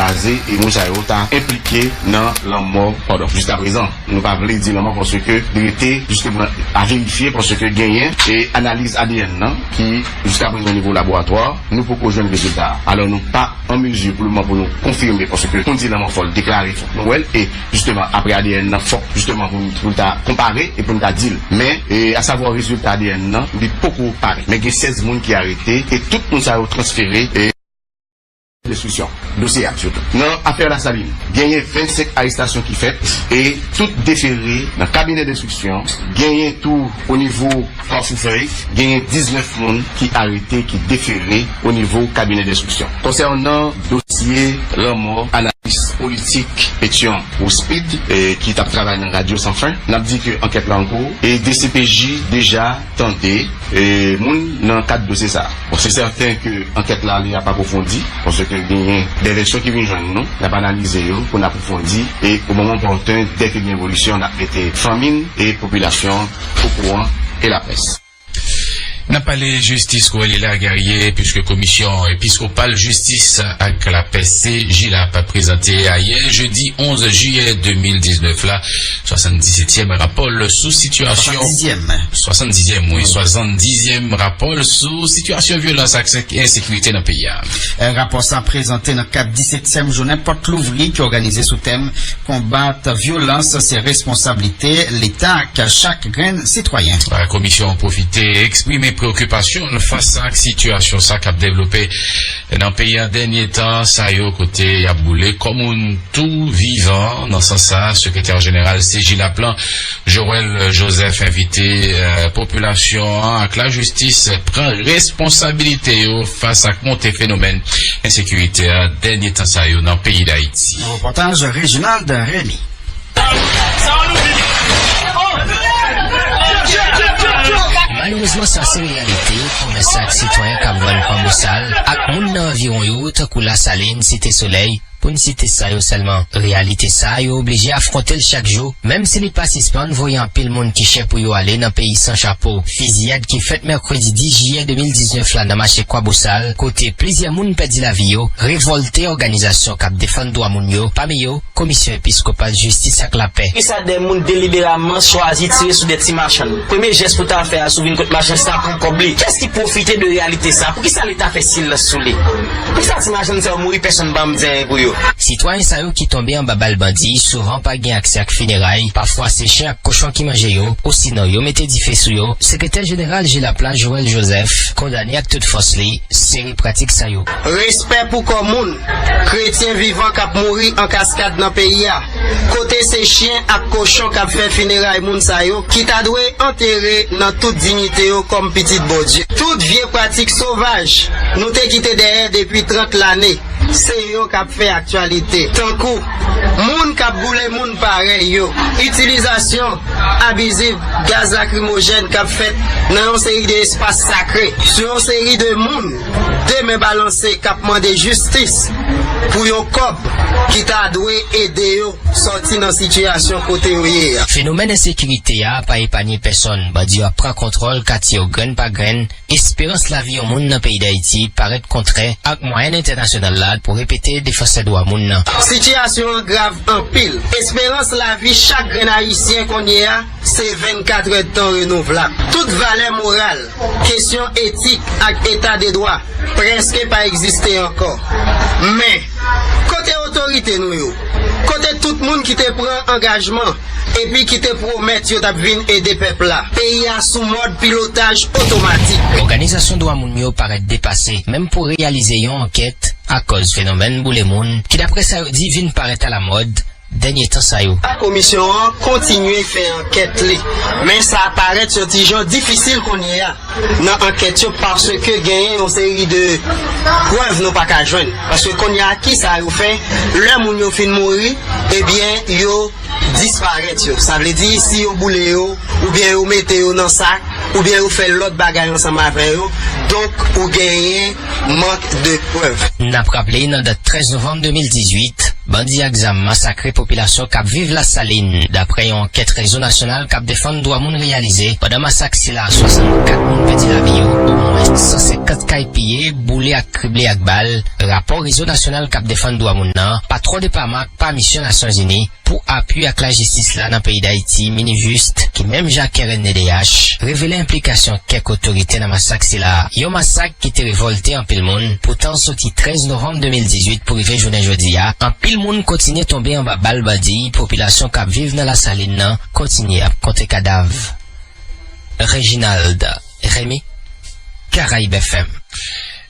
Baze e moun sa yo ta enplike nan lanmò padon jiskaprezan nou pa vle di lanmò paske li rete jisteman a verifye paske genyen e analiz adn nan ki jiskaprezan o nivo laboratwa nou poko jwenn rezilta a alò nou pa an mezi pou lman pou nou konfime paske konn di lanmò fòl deklare fòk nou wèl e jisteman apre adn nan fòk jisteman pou nou ta konpare e pou nou ta dil men e asavwa rezilta adn nan li poko parèt men gen 16 moun ki arete e tout moun sa yo transfere e. Enstriksyon dosye a sitou. Nan afè Lasalin, genyen 25 arestasyon ki fèt e tout defere nan kabinè denstriksyon, genyen tou onivo Kafou Fèy, genyen 19 moun ki arete ki defere onivo kabinè denstriksyon. Konsènan dosye lanmò analis politik Petion Rouspide ki t ap travay nan Radyo San Fen, n ap di ke ankèt la an kou e dcpj deja. tande moun nan kad dosye sa. Bon se sèten ke ankèt la li ap apwofondi paske genyen de vèsyon ki vin jwenn nou, n ap analize yo pou n apwofondi e o moman opòten dè ke gen evolisyon n ap mete fanmi n e popilasyon an okouran e laprès. N ap pale jistis kou li la Guerrier puiske komisyon episkopal jistis ak lapè CJLAP prezante ayè jedi 11 jiyè 2019 la Swasandisetyèm Rapòl sou Sitiyasyon Swasandizyèm wi Swasandizyèm Rapòl sou Sitiyasyon Vyolans ak Ensekirite nan peyi a. Rapò sa prezante nan kad disetyèm jounen pòt louvri ki òganize sou tèm Konbat vyolans se responsablite Leta ak chak grenn sitwayen. Komisyon an pwofite eksprime preokipasyon l fas ak sitiyasyon sa k ap devlope. E nan peyi a dènye tan sa yo kote y ap boule kò moun tou vivan. Nan sans sa, sekretè jeneral CJLAP lan, Joël Joseph envite popilasyon an ak lajistis pran responsabilite yo fas ak monte fenomèn ensekirite a dènye tan sa yo nan peyi Dayiti. Yon repòtaj Reginald Remy. Malerezman sa se reyalite komès ak sitwayen kap vann pan bosal ak moun nan anviwon yo tankou Lasalin, Site Solèy pou n site sa yo sèlman. Reyalite sa yo oblije afwonte l chak jou menm si li pa sispann voye anpil moun ki chè pou yo ale nan peyi san chapo. Fiziyad ki fèt mèkredi 10 jiyè 2019 la nan mache Kwabosal kote plizyè moun pèdi lavi yo revòlte òganizasyon kap defann dwa moun yo pami yo, Komisyon Episkopal Jistis ak Lapè. Poukisa dè moun deliberamman chwazi tire sou dè ti machann? Premye jès pou ta fè a si w vin kot machann sa pran kòb li. Kiyès ki pwofite de reyalite sa? Poukisa leta fè silans sou li? Poukisa ti machann sa yo mouri pèsonn pa mnzenyen pou yo? Sitwayen sa yo ki tonbe anba bal bandi souvan pa gen aksè ak fineray, pafwa se chen ak kochon ki manje yo, osinon yo mete dife sou yo. Sekretè jeneral Jilap la, Joel Joseph, kondane ak tout fòs li seri pratik sa yo. Respè pou kò moun! Kretyen vivan k ap mouri an kaskad nan peyi a, kote se chyen ak kochon k ap fè fineray moun sa yo ki ta dwe antere nan tout dignite yo kòm pitit Bondye. Tout vye pratik sovaj nou te kite dèyè depi 30 lane, se yo k ap fè aktyalite, tankou, moun k ap boule moun parèy yo, itilizasyon abiziv gaz lakrimojèn k ap fèt nan yon seri de espas sakre sou yon seri de moun. 2 men balanse kap mande jistis pou yon kòb ki ta dwe ede yo sòti nan sitiyasyon kote yo ye a. Fenomèn ensekirite a pa epanye pèsonn, bandi yo ap pran kontwòl katye yo grenn pa grenn, esperans lavi yon moun nan peyi Dayiti parèt kontrè ak mwayèn entènasyonal la pou repete defansè dwa moun nan. Sitiyasyon an grav anpil, esperans lavi chak grenn ayisyen konnye a se 24 èdtan renouvlab, tout valè moral, Kesyon etik ak eta de dwa prèske pa egziste ankò. Men, kote otorite nou yo? Kote tout moun ki te pran angajman epi ki te pwomèt yo t ap vin ede pèp la? Peyi a sou mòd pilotaj otomatik. Òganizasyon dwa moun yo parèt depase menm pou reyalize yon ankèt akòz fenomèn boule moun ki, daprè sa yo di, vin parèt alamòd dènye tan sa yo. Komisyon an kontinye fè ankèt li, men sa parèt yon ti jan difisil kounye a nan ankèt yo paske genyen yon seri de prèv nou pa ka jwenn. Paske kounye a ki sa yo fè lè moun yo fin mouri ebyen yo disparèt yo? Sa vle di si yo boule yo oubyen yo mete yo nan sak oubyen yo fè lòt bagay ansanm avè yo donk ou genyen manque de preuves. N ap raple nan dat 13 novanm 2018, bandi ak zam masakre popilasyon k ap viv Lasalin, daprè yon ankèt Rezo Nasyonal k ap Defann Dwa Moun reyalize. Pandan masak sila, 64 moun pèdi lavi yo, omwens 150 kay piye, boule ak krible ak bal, rapò Rezo Nasyonal k ap Defann Dwa Moun nan, pa twò depaman ak pa misyon Nasyonzini. Pou apui ak lajistis la nan peyi Dayiti, Minijust, ki menm jan ak knddh, revele enplikasyon kèk otorite nan masak sila. Yon masak ki te revòlte anpil moun, poutan soti 13 novanm 2018 pou rive jounen jodi a, anpil moun kontinye tonbe anba bal bandi, popilasyon k ap viv nan Lasalin nan kontinye ap konte kadav. Reginald Remy, Caraibes FM.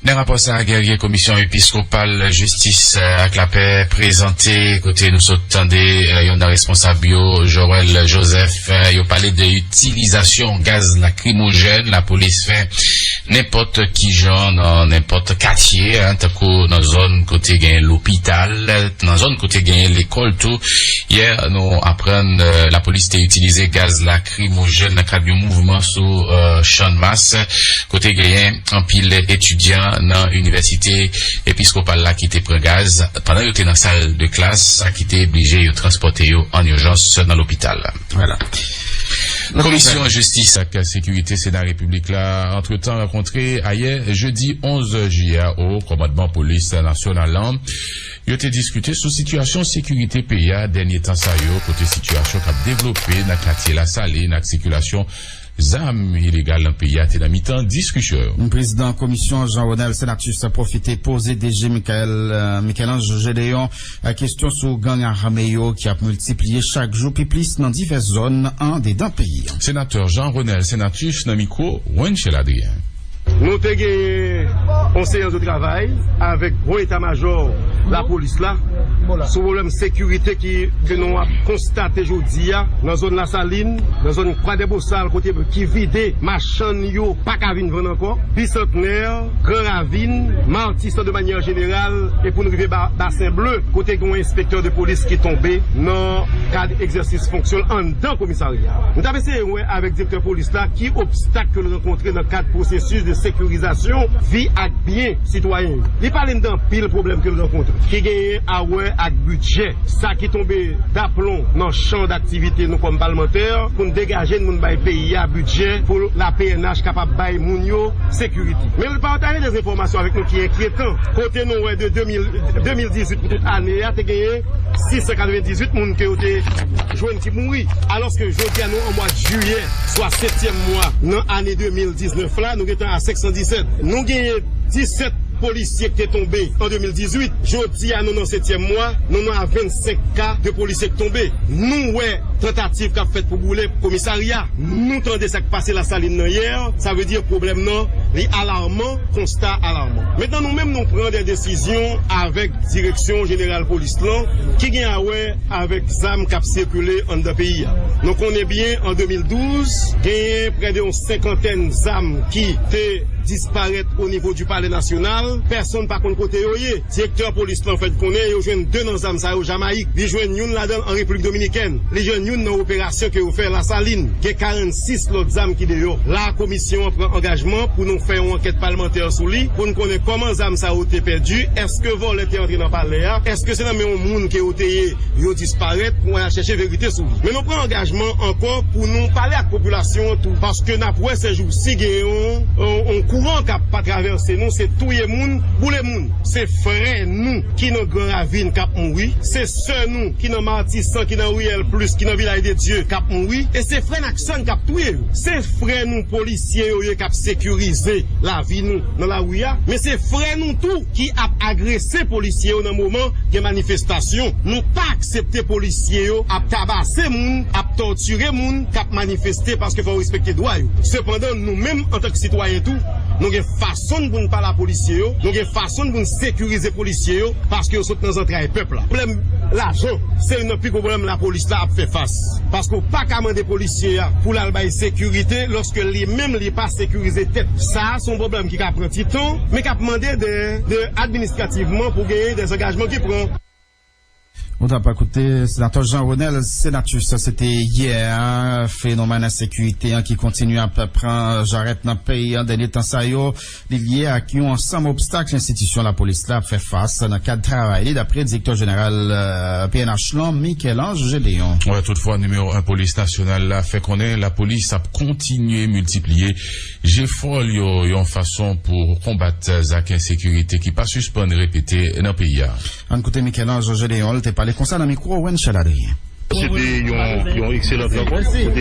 Nan rapò sa a Guerrier komisyon episkopal jistis ak lapè prezante kote nou sot tande yon nan responsab yo Joël Joseph yo pale de itilizasyon gaz lakrimojèn lapolis fè nenpòt kijan nan nenpòt katye tankou nan zòn kote gen lopital nan zòn kote gen lekòl tou yè nou aprann lapolis te itilize gaz lakrimojèn Krimojèn nan kad yon mouvman sou Channmas kote genyen anpil etidyan nan inivèsite episkopal la ki te pran gaz pandan yo te nan sal de klas, sa ki te blije yo transpòte yo an ijans nan lopital. Komisyon Jistis ak Sekirite Sena Repiblik la antretan rankontre ayè jedi 11 jiyè a o kòmandman polis nasyonal lan. Yo te diskite sou sitiyasyon sekirite peyi a dènye tan sa yo kote sitiyasyon k ap devlope nan katye Lasalin ak sikilasyon zam ilegal nan peyi a te nan mitan diskisyon yo. Prezidan komisyon Jean Ronel Senatus pwofite poze DG Michaël Michel-Ange Gédéon kesyon sou gang ame yo ki ap miltipliye chak jou pi plis nan divès zòn andedan peyi a. Senatè Jean Ronel Senatus nan mikwo Wenchel Adrien. Nou te genyen yon seyans de travay avèk gwo eta majò lapolis la sou pwoblèm sekirite ke nou ap konstate jodi a nan zòn Lasalin, nan zòn Kwadèbosal kote ki vide machann yo pa ka vin vann ankò, Bisantnè, Gran Ravin, Matisan de manyè jeneral e pou n rive Basen Ble kote gen yon enspektè de polis ki tonbe nan kad egzèsis fonksyon l anndan komisarya a. wè avèk direktè polis la ki obstak ke l rankontre nan kad pwosesis de sekirizasyon vi ak byen sitwayen yo. Li pale n de anpil pwoblèm ke l rankontre ki genyen a wè ak bidjè, sa ki tonbe daplon nan chan daktivite nou kòm palmantè pou n degaje n moun bay peyi a bidjè pou la pnh kapab bay moun yo sekirite. Men l pataje de enfòmasyon avèk nou ki enkyetan kote nou wè de 2018 pou tout ane a te genyen 698 moun ke yo te jwenn. Ki mouri. Alòske jodi a nou an mwad jiyè, swa setyèm mwa nan ane 2019 la, nou gentan a 517. Nou genyen 17 polisye ki te tonbe an 2018. Jodi a nou nan setyèm mwa, nou nan a 25 ka de polisye ki tonbe. Nou wè tantativ k ap fèt pou boule komisarya. Nou tande sa k pase Lasalin nan yè. Sa vle di pwoblèm nan li alarman, konsta a alarman. Mentnan nou menm nou pran dè desizyon avèk direksyon jeneral polis lan ki gen a wè. avèk zam k ap sikile anndan peyi a. Nou konnen byen an 2012 genyen prè de yon senkantèn zam ki te disparèt onivo di palè nasyonal, pèsonn pa konn kote yo ye. Direktè polis lan fè n konnen yo jwenn 2 nan zam sa yo Jamayik, li jwenn youn ladan l an Repiblik Dominikèn, li jwenn youn nan operasyon ke yo fè Lasalin. Gen 46 lòt zam ki deyò. La a komisyon an pran angajman pou nou fè yon ankèt palmantè sou li pou n konnen kòman zam sa yo te pèdi, èske vòlè te antre nan palè a, èske se nan men yon. moun ke ou te ye yo disparèt pou al chèche verite sou li. Men nou pran angajman ankò pou nou pale ak popilasyon an tou paske nap wè sèjousi gen yon kouran kap pa travèse nou se touye moun, boule moun. Se frè nou ki nan gran ravin kap mouri, se sè nou ki nan matisan, ki nan riyèl plis, ki nan vilaj de Dye kap mouri e se frè n ak sè n kap touye yo. Se frè nou polisye yo ye kap sekirize lavi nou nan lari a men se frè Nou tou ki ap agrese polisye yo nan moman gen manifestasyon, nou pa aksepte polisye yo ap tabase moun, ap tòtire moun k ap manifeste paske fò yo respekte dwa yo. Sepandan nou menm antan k sitwayen tou, nou gen fason n pou n pale a polisye yo, nou gen fason n pou n sekirize polisye yo paske yo sot nan zantray pèp la. Pwoblèm lajan se youn nan pi gwo pwoblèm lapolis la ap fè fas paske ou pa ka mande polisye a pou l al bay sekirite lòske li menm li pa sekirize tèt. Sa a se yon pwoblèm. ki ka pran ti tan, men k ap mande de de administrativman pou genyen de zangajman ki pran. Nou t ap koute Senatè Jean Renel Senatus se te yè a. Fenomèn ensekirite an ki kontinye ap pran jarèt nan peyi an dènye tan sa yo, li lye ak yon ansanm obstak enstitisyon lapolis la ap fè fas nan kad travay li, daprè direktè jeneral pnh lan, Michel-Ange Gédéon. Toutfwa, nimewo 1 polis nasyonal la fè konnen lapolis ap kontinye miltipliye Jefò l yo yon fason pou konbat zak ensekirite ki pa sispann repete nan peyi a. Ann koute Michel-Ange Gédéon, l te pale konsa nan mikwo Wenchèl Adrien. Se te yon ekselant rankont.